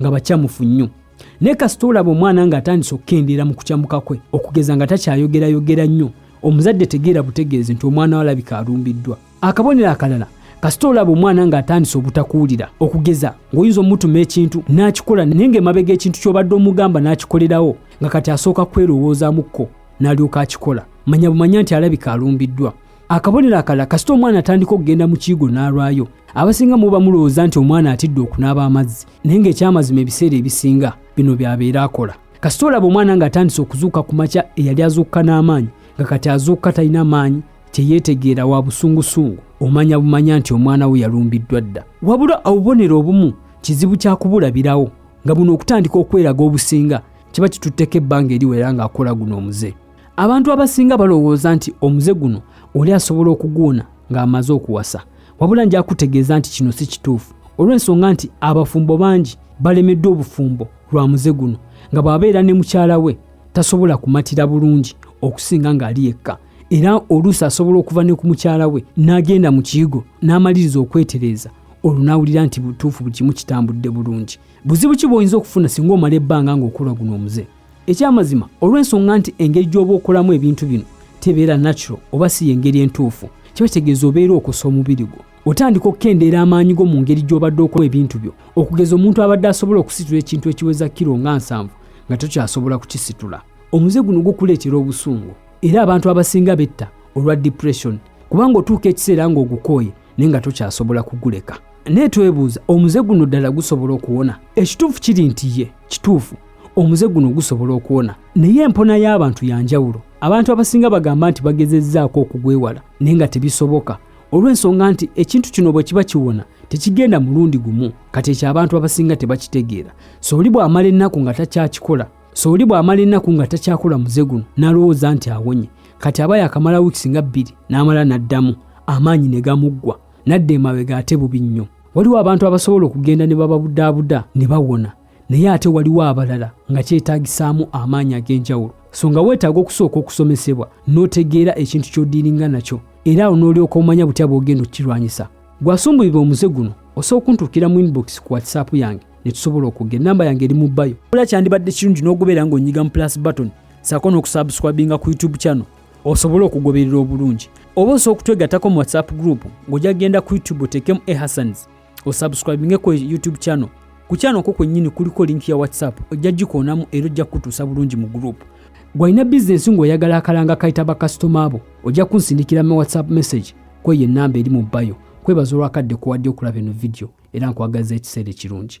nga bakyamufu nnyo naye kasita olaba omwana nga atandise okukendeera mu kukyamuka kwe okugeza nga takyayogerayogera nnyo omuzadde tegeera butegeezi nti omwana walabika alumbiddwa akabonero akalala kasita olaba omwana ng'atandise obutakuwulira okugeza ng'oyinza omutuma ekintu n'akikola naye ng'emabega ekintu ky'obadde omugamba n'akikolerawo nga kati asooka kwerowoozaamukko n'alyoka akikola manya bumanya nti alabika alumbiddwa akabonero akalala kasita omwana atandika okugenda mu kiigo n'alwayo abasinga muba mulowooza nti omwana atidde okunaaba amazzi naye ng'ekyamazima ebiseera ebisinga bino byabeera akola kasita olaba omwana ng'atandise okuzuuka ku makya eyali azuukuka n'amaanyi nga kati azuukuka talina maanyi teyeetegeera wa busungusungu omanya bumanya nti omwana we yalumbiddwa dda wabula obubonero obumu kizibu kya kubulabirawo nga buno okutandika okweraga obusinga kiba kitutteko ebbanga eriwera ng'akola guno omuze abantu abasinga balowooza nti omuze guno oli asobola okuguwona ng'amaze okuwasa wabula nja kutegeeza nti kino si kituufu olw'ensonga nti abafumbo bangi balemeddwa obufumbo lwa muze guno nga bw'abeera ne mukyala we tasobola kumatira bulungi okusinga ng'ali yekka era oluusi asobola okuva ne ku mukyala we n'agenda mu kiyigo n'amaliriza okwetereeza olwo n'awulira nti butuufu buli kimu kitambudde bulungi buzibu ki bw'oyinza okufuna singa omala ebbanga ng'okola guno omuze ekyamazima olw'ensonga nti engeri gy'oba okolamu ebintu bino tebeera natural oba si y'engeri entuufu kiba kitegeeza obeera okosa omubiri gwo otandika okukendeera amaanyi go mu ngeri gy'obadde okola ebintu byo okugeza omuntu abadde asobola okusitula ekintu ekiweza kiro nga nsanvu nga tokyasobola kukisitula omuze guno gukuleetera obusungu era abantu abasinga betta olwa depression kubanga otuuka ekiseera ng'ogukooye naye nga tokyasobola kuguleka naye twebuuza omuze guno ddala gusobola okuwona ekituufu kiri nti ye kituufu omuze guno gusobola okuwona naye empona y'abantu ya njawulo abantu abasinga bagamba nti bagezezzaako okugwewala naye nga tebisoboka olw'ensonga nti ekintu kino bwe kiba kiwona tekigenda mulundi gumu kati ekyo abantu abasinga tebakitegeera so oli bw'amala ennaku nga takyakikola so oli bw'amala ennaku nga takyakola muze guno n'alowooza nti awonye kati aba yakamala wiikisi nga bbiri n'amala n'addamu amaanyi ne gamuggwa n'adda emabega ate bubi nnyo waliwo abantu abasobola okugenda ne bababudaabuda ne bawona naye ate waliwo abalala nga kyetaagisaamu amaanyi ag'enjawulo so nga weetaaga okusooka okusomesebwa n'otegeera ekintu ky'odiiringa nakyo era awo n'olyoka omanya butya bw'ogenda okukirwanyisa gwasumbuyibwa omuze guno osobola okuntuukira mu inbox ku whatsapp yange ne tusobola okugera namba yange eri mu bayo ola kyandibadde kirungi n'ogubeera ng'onyiga mu plus button saako n'okusubscribinga ku youtube channel osobole okugoberera obulungi oba osobola okutwegattako mu whatsapp group ng'ojja kugenda ku youtube oteekemu ehasans osubscribinge ku youtube channel ku channel ko kwennyini kuliko link ya whatsapp ojja gikoonamu era ojja kukutuusa bulungi mu group gwalina bizinesi ng'oyagala akalanga kayita bakasitoma abo ojja kunsindikira mu whatsapp message kweyo ennamba eri mu bayo kwebaza olwakadde kuwadde okulaba eno vidiyo era nkwagaza ekiseera ekirungi